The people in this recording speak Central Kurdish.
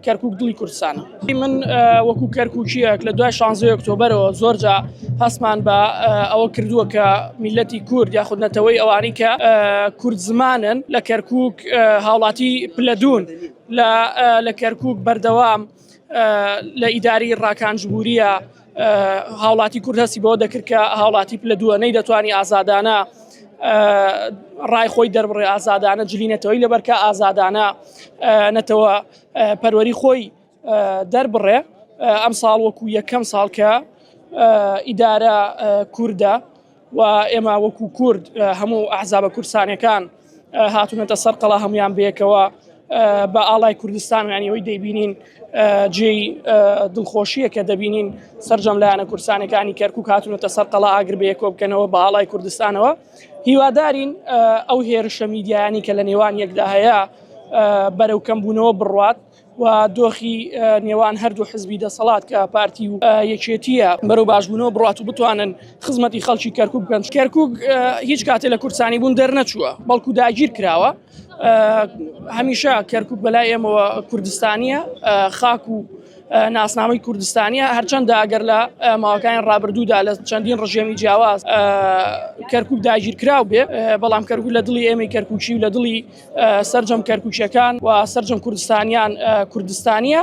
کەرکک دڵی کوردستانە من وەکو کەرککیەک لە دوای شانزی ئۆکتۆبرەوە زۆرجا هەستمان بە ئەوە کردووە کە میلەتی کورد یاخود نەتەوەی ئەوانی کە کورد زمانن لە کەرکک هاوڵاتی پلەدون لە کەرکک بەردەوام لە ئیداری ڕاکانجبووریە هاوڵاتی کورد هەستی بەوە دەکرد کە هاوڵاتی پلە دووە نەی دەتوانانی ئازادانە ڕای خۆی دەربڕێ ئازادانە جلی نەتەوەی لەبەرکە ئازادانە نەتەوە پەروەری خۆی دەربڕێ ئەم ساڵ وەکو یەکەم ساڵکە ئیدارە کووردە و ئێمە وەکو کورد هەموو ئەحزابە کورسانەکان هاتونەتە سەر قەڵا هەمویان بەیەکەوە بە ئاڵای کوردستان یانیەوەی دەیبینین جێی دڵخۆشیە کە دەبینین سرجەم لایەنە کورسانەکانی کەرکک هاتونەتە سەر قەڵا ئاگر بەیەکۆ بکەنەوە بە ئاڵای کوردستانەوە هیوادارین ئەو هێرشە میدیانی کە لە نێوان یەکدا هەیە بەرەو کەمبوونەوە بڕات و دۆخی نێوان هەردوو حزبی دەسەڵات کە پارتی و یەکێتیە بەرەو باشبوونەوە بڕات و بتوانن خزمەتی خەڵکی کەرکک بکەن کەرکک هیچ کاتێ لە کورسانی بوون دەرنەچووە بەڵکو داگیر کراوە هەمیشە کەرکک بەلای ئێمەوە کوردستانیە خاک و ناسنامەی کوردستانیە هەرچەندە ئەگەر لە ماوەکانی ڕابردوودا لە چەندین ڕژێمی جیاواز کەرکک داگیرکراو بێ بەڵام کەرکک لە دڵی ئێمەی کەرکوچی و لە دڵی سەرجەم کەرکوکیەکان و سەرجەم کوردستانیان کوردستانیە.